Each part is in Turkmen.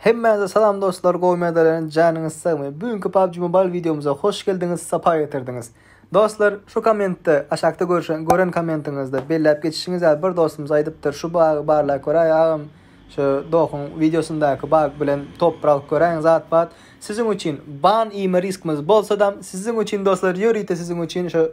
Hemmäňize salam dostlar, gowy medaleriň janyňyz sagmy? Bugünkü PUBG Mobile videomyza hoş geldiňiz, sapa getirdiňiz. Dostlar, şu kommentde, aşakda görüşen, gören kommentiňizde belläp geçişiňiz ýaly bir dostumyz aýdypdyr, şu bagy barlap göräý agam, şu dohuň videosyndaky bag bilen toprak göräň zat-pat. Siziň üçin ban iýme riskimiz bolsadam, siziň üçin dostlar, ýörite siziň üçin şu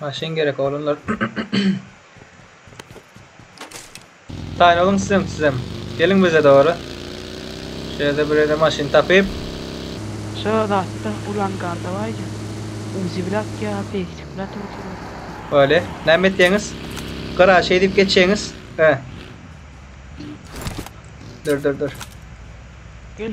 Maşyn gerek oglanlar. Taýyn boluň sizem, sizem. Geliň bize dogry. Şu ýerde bir ýerde maşyn tapyp. Şu zatda ulan gardawaýja. Uzi bile atýa, pegsik bile atyp oturýa. Wale, näme etýäňiz? Gara şeý diýip geçýäňiz. He. Dur, dur, dur. Gel.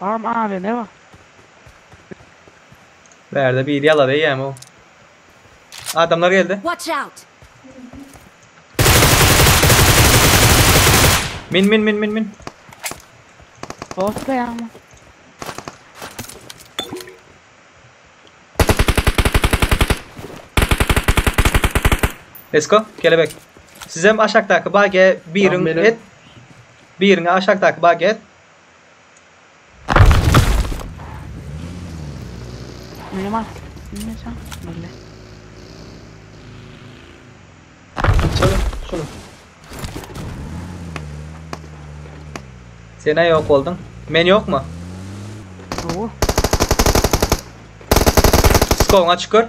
Agam Aze ne bar? Bärde biri ýalar eýýäm o. Adamlar geldi. Watch out! Min min min min min. Dost beýanmy? Esko kelebek. Sizem aşakdaky bagiýe birin Lan meni- et. Biriňi aşakdaky bagy ez. Mele mat. Mele çan. Mele. Çalın şunu. Sen aýa ýok bolduň. Men ýokmy? Owur. Skowyňa çykar.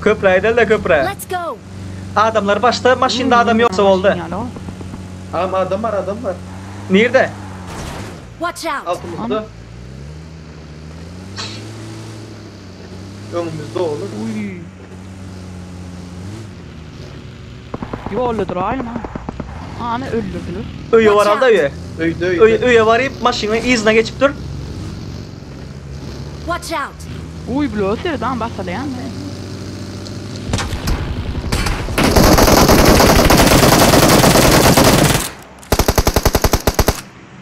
Köprä gideli-de köprä. Adamlar başda maşynda adam ýoksa boldy. Agam adam bar adam bar. Nirde? Altymyzda. Öňümizde oglum. Ýolda duraýlyň ha. Hany öldürdiler. Öýe bar alda öýe. Öýde öýde. Öý öýe baryp maşynyň yzyna geçip dur. Watch out. Uý blo serdan basalyam he.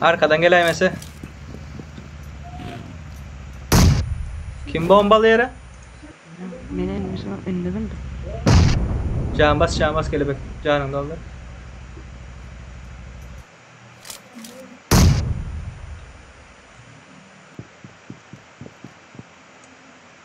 Arkadan geläýmese. Kim bombaly ýere? Men indi şu indi bildim. Can bas, can bas kelebek. Janyňy doldur.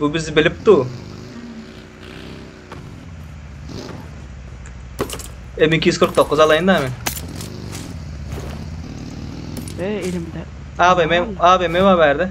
Bu bizi bilip dur. M249 alayın da men. Ve elimde. Abi men abi men var berde.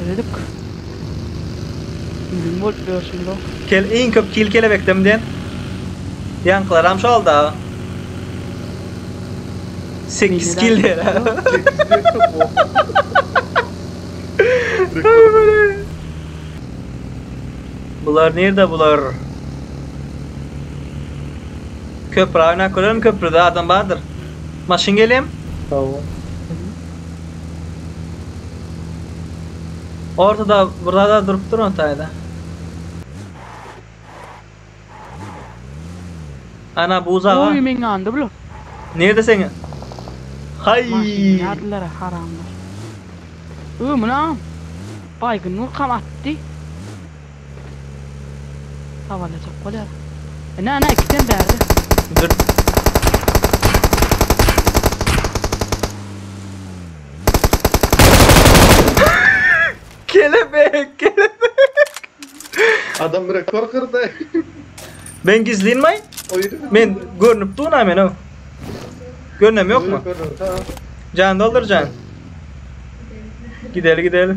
Ýöredik. Ýüzüň bolup ýörşüň bu. Kel iň köp kil kelebekdem diýen ýaňkylaram şol dagy. Sekiz kil diýer ha. Bular nirde bular? Köpri aýna körerin köpride adam bardyr. Maşyn gelýem. Hawa. Ortada bir zada durup dur on taýda. Ana buz aga. Oý meň ýanymda bular. Nirde seň? Haý. Maşyny ýadylara haramlar. Ömün agam. Baýgyn nurkam atdy. Havalajak bolýar. Ine, ana, ikisem bärde. Dur. Kelebek, kelebek. Adam rekord kyrdy. Men gizlinmaý? Men görnüp duna men o. Görnem ýokmy? Jan doldur jan. Gideli gideli.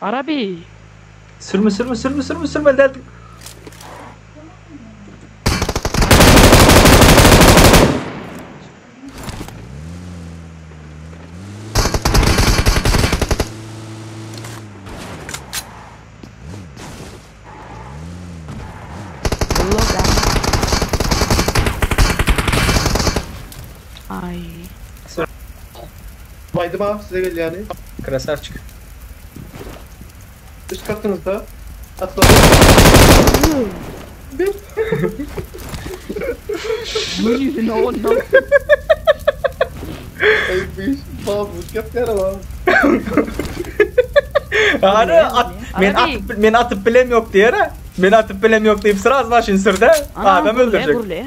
Arabi! Sürme sürme sürme sürme sürmeli däldiň. Ulla bäh. Aý. Baýdym aga size gelýäni. Krasavçik. Üst katyňyzda. Atladyň. Gör ýüzüni onuň. Ey biş babuk yapyar o. Ara at, men Ara atyp men atyp bilem yok diýer. Men atyp bilem yok diýip sraz maşyn sürde. Adam öldürecek. Gurle.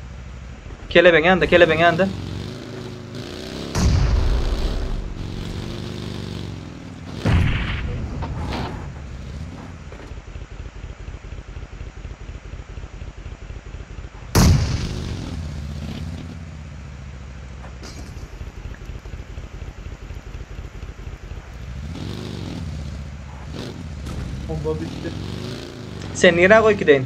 Kelebeň ýanynda, kelebeň ýanynda. Bomba bitti. Sen nirä goýup gideýin?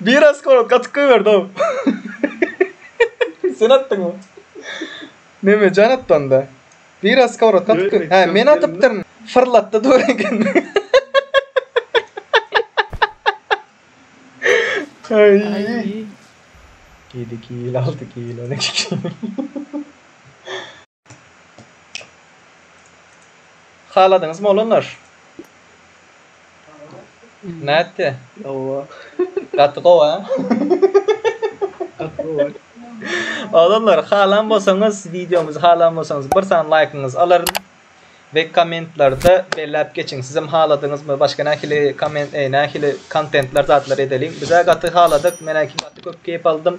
Bir askol gatyk goýberdi ow. Sen atdyňmy? Memejan atdy onda. Bir askol gatyk goý. Hä, men atypdyryn. Fyrlatdy dur eken. Aý. Ýedi kil, alty kil, on iki kil. Haladyňyz molanlar? Nätdi? Owa. Gaty gowy, ha? Gaty gowy. Oglanlar, halan bolsaňyz, wideomyzy halan bolsaňyz, bir sany laýkyňyzy alaryn. We kommentlarda belläp geçiň, sizem haladyňyzmy, başga nähili komment, nähili kontentler, zatlar edeliň. Bizä gaty haladyk, menä gaty köp keýp aldym.